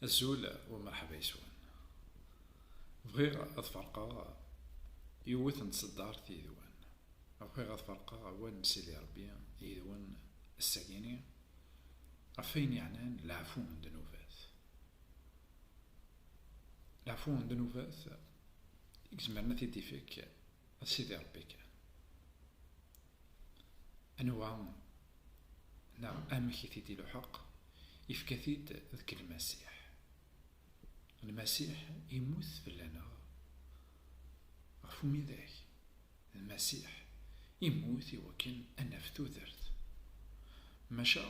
Azul wa merḥba yeswan. Bɣiɣ ad ferqeɣ yiwet n tseddart yid-wen. Bɣiɣ ad ferqeɣ awal n Sidi Ṛebbi yid-wen ass-agi-ni ɣef wayen yeɛnan leɛfu n ddnubat. Leɛfu n ddnubat i yezmeren ad t-id-ifek Sidi Ṛebbi kan. Anwa neɣ amek i t-id-iluḥeq, ifka-t-id deg Lmasiḥ. Lmasiḥ immut fell-aneɣ ɣef umidag. Lmasiḥ immut i wakken ad naf tudert. Maca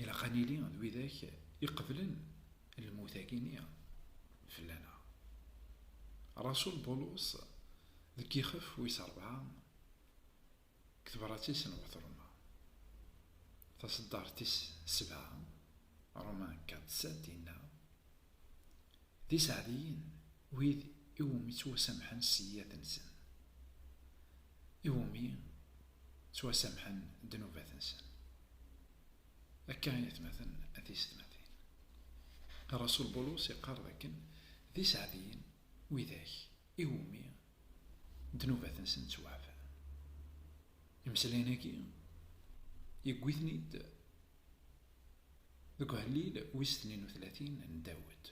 ilaq ad nili d widak iqeblen lmut-agi-nni fell-aneɣ. Rasul Bulus deg ixef wis rebɛa, Deg tebrat-is n Wat Roma taṣeddart tis sebɛa, Romain Katz-Set, yenna, D iseɛdiyen wid i wumi ttwasamḥen sseyyiat-nsen, i wumi ttwasamḥen ddnubat-nsen. Akka i atmaten a tisetmatin. Rasul Bulus iqqar dakken, D iseɛdiyen widak iwumi ddnubat-nsen ttwaɛfan. Imeslayen-agi, yewwi-ten-id deg uhellil wis tnin u tlatin n Dawed.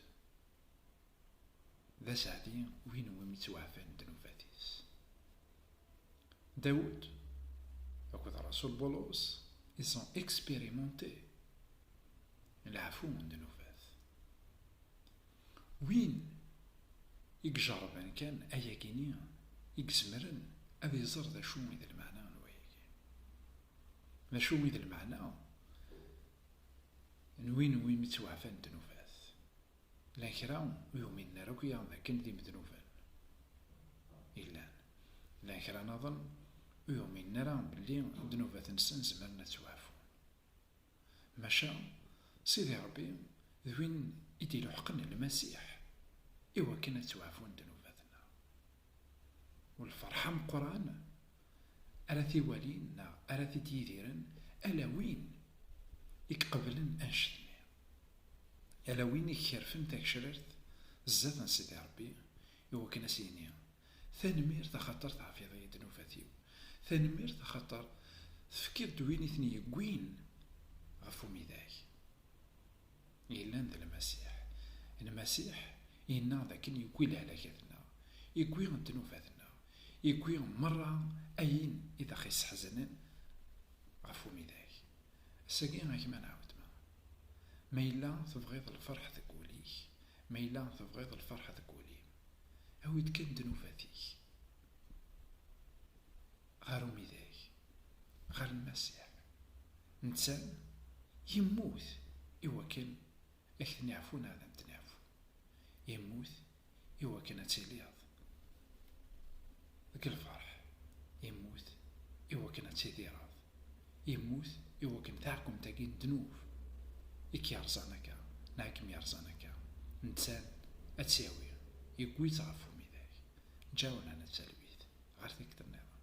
D aseɛdi win iwumi ttwaɛfan ddnubat-is. Dawed akked Rasul Bulus, ils ont expérimenté leɛfu n ddnubat. Win i ijerrben kan ayagi-nni i izemren ad iẓer d acu i d lmeɛna n wayagi. D acu i d lmeɛna n win iwumi ttwaɛfan ddnubat? Llan kra ur uminen ara akya d akken d imednuben i llan. Llan kra naḍen ur uminen ara belli ddnubat-nsen zemren ad ttwaɛfun. Maca Sidi Ṛebbi d win i d-iluḥqen Lmasiḥ i wakken ad ttwaɛfun ddnubat-nneɣ. U lferḥ ameqqran ara t-iwalin neɣ ara t-id-yidiren ala win i iqeblen annect-nni, ala win i ikerfen tagecrart zdat n Sidi Ṛebbi i wakken ad s-yini, Tanemmirt axaṭer teɛfiḍ-iyi ddnubat-iw, tanemmirt axaṭer tefkiḍ-d win i ten-yewwin ɣef umidag yellan d Lmasiḥ. Lmasiḥ yenna-ɣ d akken yewwi lehlakat-nneɣ, yewwi ddnubat-nneɣ, yewwi merra ayen i d aɣ-isseḥzanen ɣef umidag. Ass-agi a gma nɛawed-ma. Ma yella tebɣiḍ lferḥ deg wul-ik, ma yella tebɣiḍ lferḥ deg wul-im. Awi-d kan ddnubat-ik ɣer umidag, ɣer Lmasiḥ. Netta yemmut i wakken ad k-neɛfu neɣ ad am-d-neɛfu. Yemmut i wakken ad tiliḍ deg lferḥ. Yemmut i wakken ad tidireḍ. Yemmut i wakken taɛkumt-agi n ddnub i k-yerẓan akka neɣ i kem-yerẓan akka, netta-n ad tt-yawi, yewwi-tt ɣef umidag, Ǧaɛunan At Talwit, ɣer tikti-nniḍen.